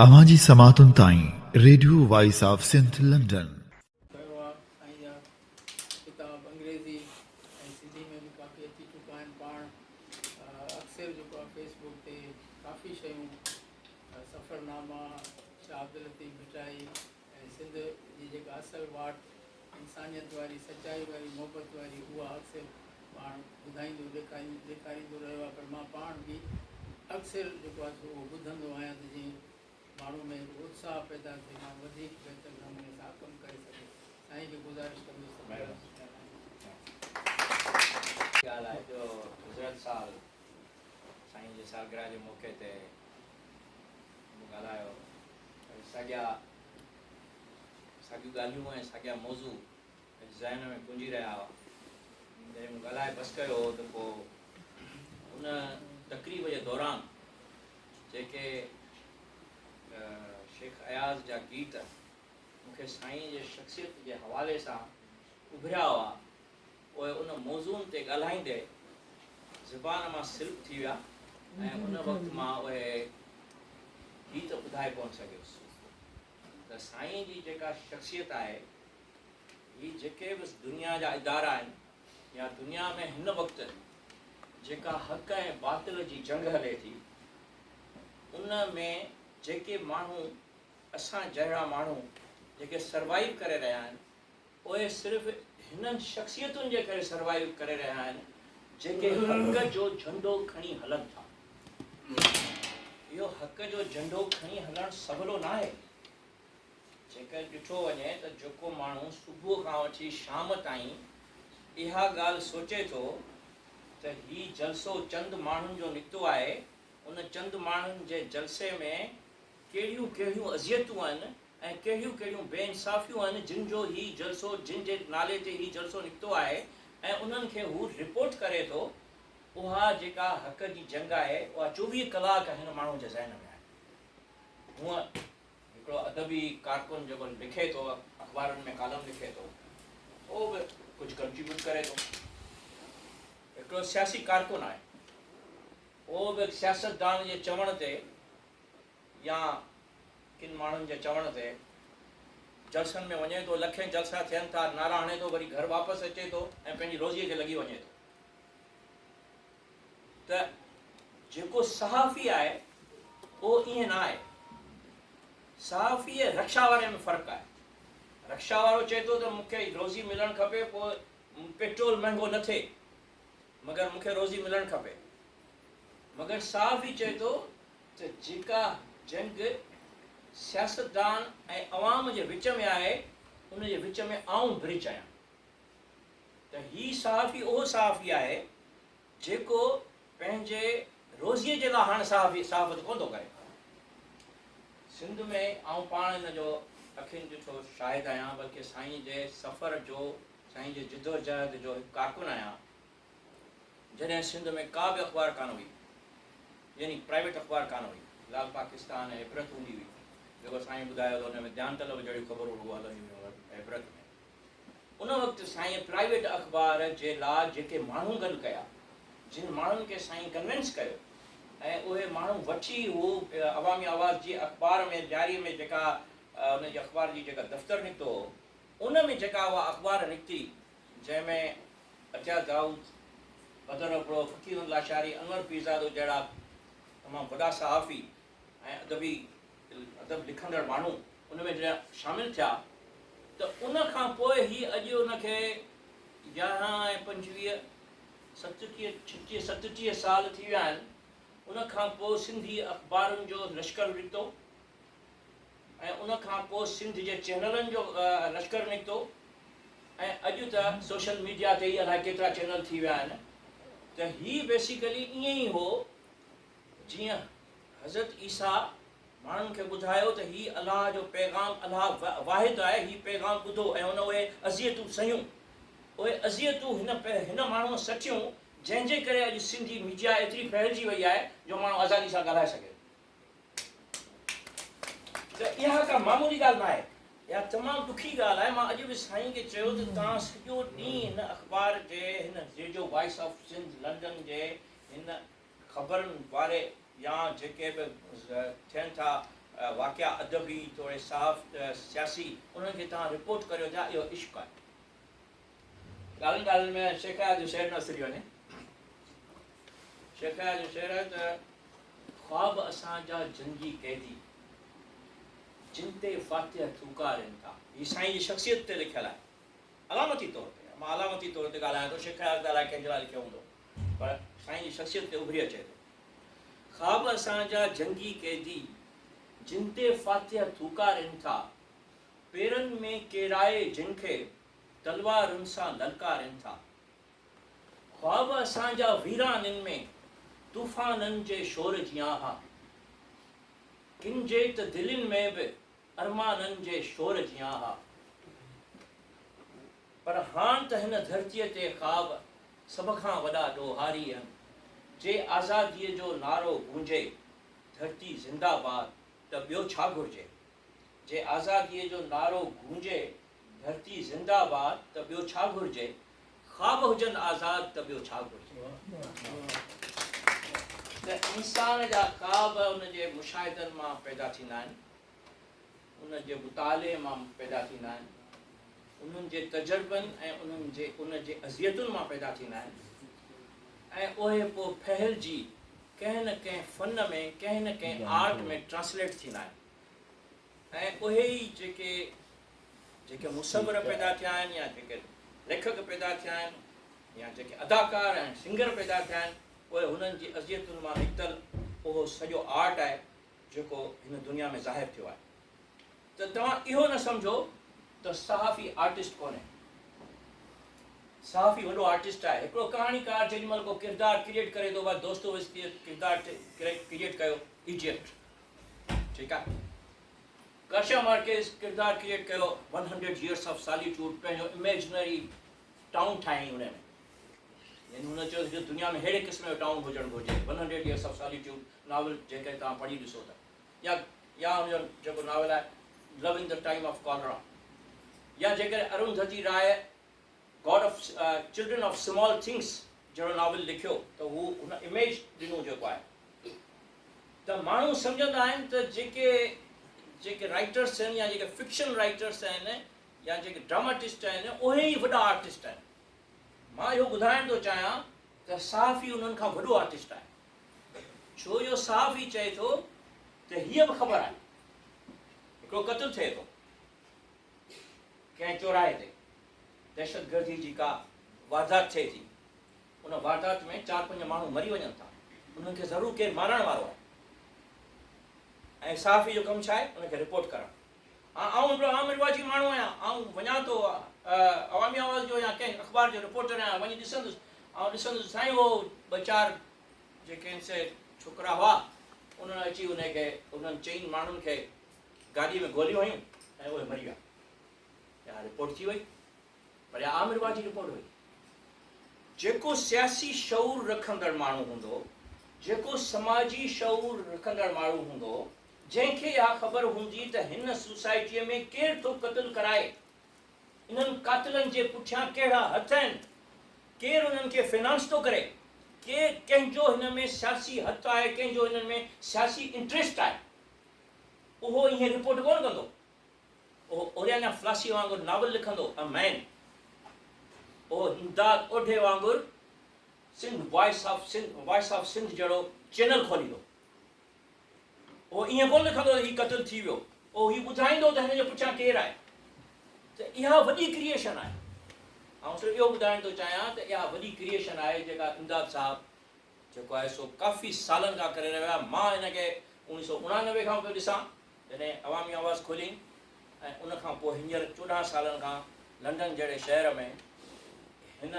اوهان جي سماعتن تائين radio voice of Sindh London. ڪيو آهي ۽ اها ڪتاب انگريزي ۽ سنڌي ۾ به ڪافي اچي چڪا آهن پاڻ اڪثر جيڪو آهي فيس بوڪ تي ڪافي شيون سفرناما شاهه عبداللطيف ڀٽائي ۽ سنڌ جي جيڪا اصل واٽ انسانيت واري، سچائي واري، محبت واري اها اڪثر پاڻ ٻڌائيندو ڏيکاريندو ڏيکاريندو رهيو آهي پر مان پاڻ به اڪثر جيڪو آهي سو اهو ٻڌندو آهيان ته جئين ماڻهو ۾ هڪ اتساهه پيدا ٿئي ماڻهو وڌيڪ بهتر نموني سان ڪم ڪري سگهي سائين کي گذارش ڪندس ته مهرباني ڳالهه آهي جو گذريل سال سائين جي سالگرهه جي موقعي تي. مون ڳالهايو ۽ ساڳيا ساڳيون ڳالهيون ۽ ساڳيا موضوع اڄ ذهن ۾ پنجي رهيا هئا جڏهن مون ڳالهائي بس ڪيو هو ته پوء ان تقريب جي دوران جيڪي شيخ اياز جا گيت مون کي سائين جي شخصيت جي حوالي سان اڀريا هئا پوء ان موضوعن تي ڳالهائيندي زبان مان سلپ ٿي ويا ۽ ان وقت مان اهي هي ته ٻڌائي ڪونه سگهيس ته سائين جي جيڪا شخصيت آهي هي جيڪي به دنيا جا ادارا آهن يا دنيا ۾ هن وقت جيڪا حق ۽ باطل جي جنگ هلي ٿي ان ۾ جيڪي ماڻهو اسان جهڙا ماڻهو جيڪي سروائيو ڪري رهيا آهن اهي صرف هنن شخصيتن جي ڪري سروائيو ڪري رهيا آهن جيڪي حق جو جهنڊو کڻي هلن ٿا. اهو حق جو جهنڊو کڻي هلڻ سولو ناهي. جيڪر ڏٺو وڃي ته جيڪو ماڻهو صبح کان وٺي شام تائين اها ڳالهه سوچي ٿو ته هي جلسو چند ماڻهن جو نڪتو آهي، ان چند ماڻهن جي جلسي ۾ ڪهڙيون ڪهڙيون اذيتون آهن، ۽ ڪهڙيون ڪهڙيون بي انصافيون آهن جن جو هي جلسو جن جي نالي تي هي جلسو نڪتو آهي ۽ انهن کي هو رپورٽ ڪري ٿو اها جيڪا حق جي جنگ آهي اها چوويهه ڪلاڪ هن ماڻهو جي ذهن ۾ آهي هونء هڪڙو ادبي ڪارڪن جيڪو لکي ٿو اخبارن ۾ ڪالم لکي ٿو اهو به ڪجهه ڪنٽريبيوٽ ڪري ٿو هڪڙو سياسي ڪارڪن آهي اهو به سياستدان جي چوڻ تي يا ڪن ماڻهن جي چوڻ تي جلسن ۾ وڃي ٿو، لکين جلسا ٿين ٿا، نعرا هڻي ٿو، وري گهر واپس اچي ٿو ۽ پنهنجي روزيء کي لڳي وڃي ٿو ته جيڪو صحافي آهي اهو ائين نه آهي. صحافي ۽ رڪشا واري ۾ فرق آهي. رڪشا وارو چئي ٿو ته مون کي روزي ملڻ کپي پوء پيٽرول مهنگو نه ٿئي مگر مون کي روزي ملڻ کپي. مگر صحافي چئي ٿو ته جيڪا جنگ سياستدان ۽ عوام جي وچ ۾ آهي ان جي وچ ۾ آئون برج آهيان ته هي صحافي اهو صحافي آهي جيڪو پنهنجي روزيء جي لاء هاڻ صحافي صحافت ڪونه ٿو ڪري. سنڌ ۾ آئون پاڻ ان جو اکين ڏٺو شاهد آهيان بلڪه سائين جي سفر جو سائين جي جدوجهد جو هڪ ڪارڪن آهيان جڏهن سنڌ ۾ ڪا به اخبار ڪانه هئي، يعني پرائيويٽ اخبار ڪانه هئي، لال پاڪستان ۽ عبرت هوندي هئي، جيڪو سائينء ٻڌايو ته ان ۾ ڌيان طلب جهڙيون خبرون رڳو هلنديون هيون عبرت ۾. ان وقت سائينء پرائيويٽ اخبار جي لا جيڪي ماڻهو گڏ ڪيا، جن ماڻهن کي سائينء ڪنوينس ڪيو ۽ اهي ماڻهو وٺي هو عوامي آواز جي اخبار ۾ ڏياري ۾ جيڪا ان جي اخبار جي جيڪا دفتر نڪتو هو، ان ۾ جيڪا اها اخبار نڪتي، جنهن ۾ عطيه دائود، بدر ابڙو، فقير احمد لاشاري، انور پيرزادو جهڙا تمام وڏا صحافي ۽ ادبي ادب لکندڙ ماڻهو ان ۾ جڏهن شامل ٿيا ته ان کان پوء هي اڄ ان کي يارهن ۽ پنجويهه ستٽيهه ڇٽيهه ستٽيهه سال ٿي ويا آهن ان کان پوء سنڌي اخبارن جو لشڪر نڪتو ۽ ان کان پوء سنڌ جي چينلن جو لشڪر نڪتو ۽ اڄ ته سوشل ميڊيا تي ئي الائي ڪيترا چينل ٿي ويا آهن ته هي بيسيڪلي ائين ئي هو جيئن حضرت عيسيٰ ماڻهن کي ٻڌايو ته هي الله جو پيغام الله واحد آهي هي پيغام ٻڌو ۽ هن اهي اذيتون سهيون اهي اذيتون هن هن ماڻهوء سٺيون جنهن جي ڪري اڄ سنڌي ميڊيا ايتري ڦهلجي وئي آهي جو ماڻهو آزادي سان ڳالهائي سگهي ته اها ڪا معمولي ڳالهه نه آهي. اها تمام ڏکي ڳالهه آهي. مان اڄ به سائين کي چيو ته توهان سڄو ڏينهن هن اخبار جي هن radio voice of Sindh London جي هن خبرن واري يا جيڪي به ٿين ٿا واقعا ادبي توڙي صحافت سياسي انهن کي توهان رپورٽ ڪريو ٿا اهو عشق آهي. ڳالهين ڳالهين ۾ شيخايا جو شعر نه وسرجي وڃي. شيخايا جو شعر آهي ته خواب اسان جا جنگي قيدي جن تي فاتح ٿوڪارين ٿا. هي سائين جي شخصيت تي لکيل آهي علامتي طور تي. مان علامتي طور تي ڳالهايان ٿو، شيخايا ته الائي ڪنهن جي لاء لکيو هوندو پر سائين جي شخصيت تي اڀري اچي ٿو. خواب اسان جا جنگي قيدي جن تي فاتح ٿوڪارين ٿا، پيرن ۾ ڪيرائي جن کي تلوارن سان للڪارين ٿا. خواب اسان جا ويرانين ۾ طوفانن جي شور جيان ها. ڪن جي ته دلين ۾ به ارمانن جي شور جيان ها. پر هاڻ ته هن ڌرتيء تي خواب سڀ کان وڏا ڏوهاري آهن. جي آزاديء جو نعرو گونجي، ڌرتي زنده باد، ته ٻيو ڇا گهرجي؟ جي آزاديء جو نعرو گونجي، ڌرتي زنده باد ته ٻيو ڇا گهرجي، خواب هجن آزاد ته ٻيو ڇا گهرجي. ته انسان جا خواب ان جي مشاهدن مان پيدا ٿيندا آهن، انهن جي مطالعي مان پيدا ٿيندا آهن، انهن جي تجربن ۽ انهن جي ان جي اذيتن مان پيدا ٿيندا آهن ۽ اهي پوء ڦهلجي ڪنهن نه ڪنهن فن ۾ ڪنهن نه ڪنهن آرٽ ۾ ٽرانسليٽ ٿيندا آهن. ۽ اهي ئي جيڪي جيڪي مصور پيدا ٿيا آهن يا جيڪي ليکڪ پيدا ٿيا آهن يا جيڪي اداڪار ۽ سنگر پيدا ٿيا آهن اهي هنن جي اذيتن مان نڪتل اهو سڄو آرٽ آهي جيڪو هن دنيا ۾ ظاهر ٿيو آهي ته توهان اهو نه سمجهو ته صحافي آرٽسٽ ڪونهي صحافي وڏو آرٽسٽ آهي هڪڙو ڪهاڻيڪار جيڏي مهل ڪو ڪردار ڪريئيٽ ڪري ٿو ڀاء دوستويسڪي ڪردار ڪريئيٽ ڪيو ايجيپٽ ٺيڪ آ گارشيا مارڪيز ڪردار ڪريئيٽ ڪيو one hundred years of solitude پنهنجو اميجنري ٽائون ٺاهيائين ان ۾ يعني هن چيو جو دنيا ۾ ههڙي قسم جو ٽائون هجڻ گهرجي one hundred years of solitude novel جيڪڏهن توهان پڙهي ڏسو ته يا يا هن جو جيڪو ناول آهي love in the time of cholera يا جيڪڏهن Arundhati Roy god of children of small things جهڙو ناول لکيو ته هو هن اميج ڏنو جيڪو آهي ته ماڻهو سمجهندا آهن ته جيڪي جيڪي رائٽرس آهن يا جيڪي فڪشن رائٽرس آهن يا جيڪي ڊراماٽسٽ آهن اهي ئي وڏا آرٽسٽ آهن مان اهو ٻڌائڻ ٿو چاهيان ته صحافي انهن کان وڏو آرٽسٽ آهي ڇو جو صحافي چئي ٿو ته هيء به خبر آهي هڪڙو قتل ٿئي ٿو ڪنهن چوراهي تي دهشتگردي جي ڪا واردات ٿئي ٿي، ان واردات ۾ چار پنج ماڻهو مري وڃن ٿا، انهن کي ضرور ڪير مارڻ وارو آهي ۽ صحافي جو ڪم ڇا آهي ان کي رپورٽ ڪرڻ. هان آئون هڪڙو عام رواجي ماڻهو آهيان، آئون وڃان ٿو عوامي آواز جو يا ڪنهن اخبار جو رپورٽر آهيان، وڃي ڏسندس، آئون ڏسندس سائين هو ٻه چار جيڪي هن سيد ڇوڪرا هئا انهن اچي انهي کي انهن چئن ماڻهن کي گاڏيء ۾ گوليون هيون ۽ اهي مري ويا. اها رپورٽ ٿي وئي، پر اها عامر واهه جي رپورٽ هئي. جيڪو سياسي شعور رکندڙ ماڻهو هوندو، جيڪو سماجي شعور رکندڙ ماڻهو هوندو، جنهن کي اها خبر هوندي ته هن سوسائٽيء ۾ ڪير ٿو قتل ڪرائي، انهن قاتلن جي پٺيان ڪهڙا هٿ آهن، ڪير انهن کي فنانس ٿو ڪري، ڪير ڪنهن جو هن ۾ سياسي هٿ آهي، ڪنهن جو هنن ۾ سياسي انٽريسٽ آهي. اهو ائين رپورٽ ڪونه ڪندو. اهو اوريانا فلاسي وانگر ناول لکندو، A Man. اهو همداد اوڍي وانگر Sindh voice of Sindh Voice of Sindh جهڙو چينل کوليندو. اهو ائين ڪونه لکندو ته هي قتل ٿي ويو. اهو هي ٻڌائيندو ته هن جي پٺيان ڪير آهي. ته اها وڏي ڪريئيشن آهي. آئون صرف اهو ٻڌائڻ ٿو چاهيان ته اها وڏي ڪريئيشن آهي جيڪا امداد صاحب جيڪو آهي سو ڪافي سالن کان ڪري رهيو آهي، مان هن کي اوڻيهه سؤ اڻانوي کان پيو ڏسان جڏهن عوامي آواز کوليائين ۽ ان کان پوء هينئر چوڏهن سالن کان لنڊن جهڙي شهر ۾ هن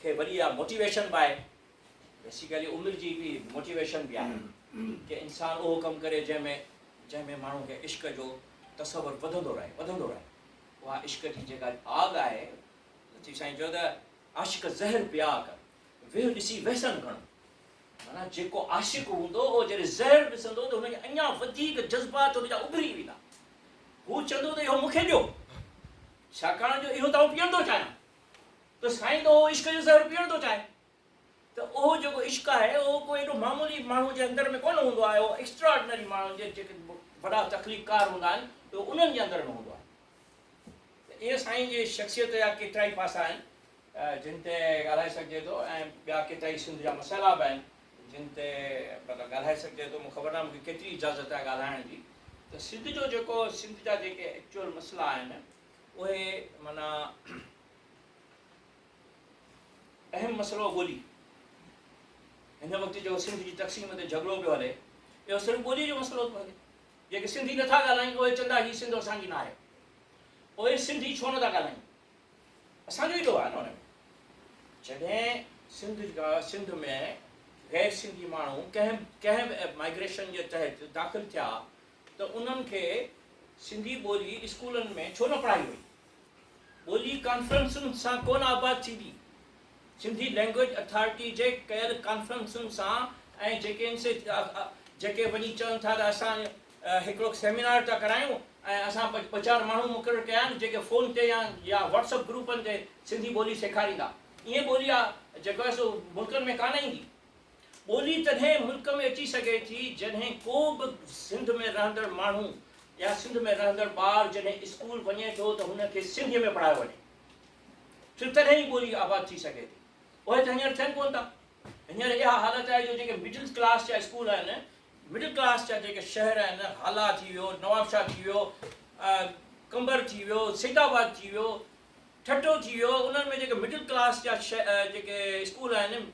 کي وري اها موٽيويشن به آهي بيسيڪلي عمر جي هڪڙي موٽيويشن به آهي ڪي انسان اهو ڪم ڪري جنهن ۾ جنهن ۾ ماڻهو کي عشق جو تصور وڌندو رهي وڌندو رهي اها عشق جي جيڪا آڳ آهي لطيف سائين چيو ته عاشق زهر پيا ڪن. ويهه ڏسي ويسن گهڻ. معنيٰ جيڪو عاشق هوندو اهو جڏهن زهر ڏسندو ته هن کي اڃا وڌيڪ جذبات هن جا اڀري ويندا. هو چوندو ته اهو مون کي ڏيو ڇاڪاڻ جو اهو ته آئون پيئڻ ٿو چاهيان ته سائين ته اهو عشق جو زهر پيئڻ ٿو چاهي ته اهو جيڪو عشق آهي اهو ڪو ايڏو معمولي ماڻهو جي اندر ۾ ڪونه هوندو آهي اهو ايڪسٽرا آرڊنري ماڻهن جي جيڪي وڏا تخليق ڪار هوندا آهن اهو انهن جي اندر ۾ هوندو آهي. ته ايئن سائين جي شخصيت جا ڪيترائي پاسا آهن جن تي ڳالهائي سگهجي ٿو ۽ ٻيا ڪيترائي سنڌ جا مسئلا به آهن جن تي مطلب ڳالهائي سگهجي ٿو مون خبر ناهي مون کي ڪيتري اجازت آهي ڳالهائڻ جي ته سنڌ جو جيڪو سنڌ جا جيڪي ايڪچوئل مسئلا آهن اهي مانا اهم مسئلو ٻولي هن وقت جو سنڌ جي تقسيم تي جهڳڙو پيو هلي اهو صرف ٻولي جو مسئلو ٿو هلي جيڪي سنڌي نه ٿا ڳالهائين اهي چوندا هي سنڌ اسان جي ناهي اهي سنڌي ڇو نه ٿا ڳالهائين اسان جو ئي ڏوهه آهي نه ان ۾ جڏهن سنڌ سنڌ ۾ غير سنڌي ماڻهو ڪنهن ڪنهن به مائگريشن جي تحت داخل ٿيا ته انهن کي سنڌي ٻولي اسڪولن ۾ ڇو نه پڙهائي وئي ٻولي ڪانفرنسن سان ڪونه آباد ٿيندي، سنڌي لئنگويج اٿارٽي جي ڪيل ڪانفرنسن سان ۽ جيڪي ان سي جيڪي وڃي چون ٿا ته اسان هڪڙو سيمينار ٿا ڪرايون ۽ اسان ٻه چار ماڻهو مقرر ڪيا آهن جيڪي فون تي يا يا واٽس اپ گروپن تي سنڌي ٻولي سيکاريندا ائين ٻولي جيڪو آهي سو ملڪن ۾ ڪانه ايندي. ٻولي تڏهن ملڪ ۾ اچي سگهي ٿي جڏهن ڪو به سنڌ ۾ رهندڙ ماڻهو يا سنڌ ۾ رهندڙ ٻار جڏهن اسڪول وڃي ٿو ته هن کي سنڌيء ۾ پڙهايو وڃي ٿو تڏهن ئي ٻولي آباد ٿي سگهي ٿي. اهي ته هينئر ٿين ڪونه ٿا. هينئر اها حالت آهي جو جيڪي مڊل ڪلاس جا اسڪول آهن، مڊل ڪلاس جا جيڪي شهر آهن، هالا ٿي ويو، نوابشاهه ٿي ويو، قمبر ٿي ويو، سيد آباد ٿي ويو، ٺٽو ٿي ويو، انهن ۾ جيڪي مڊل ڪلاس جا جيڪي اسڪول آهن،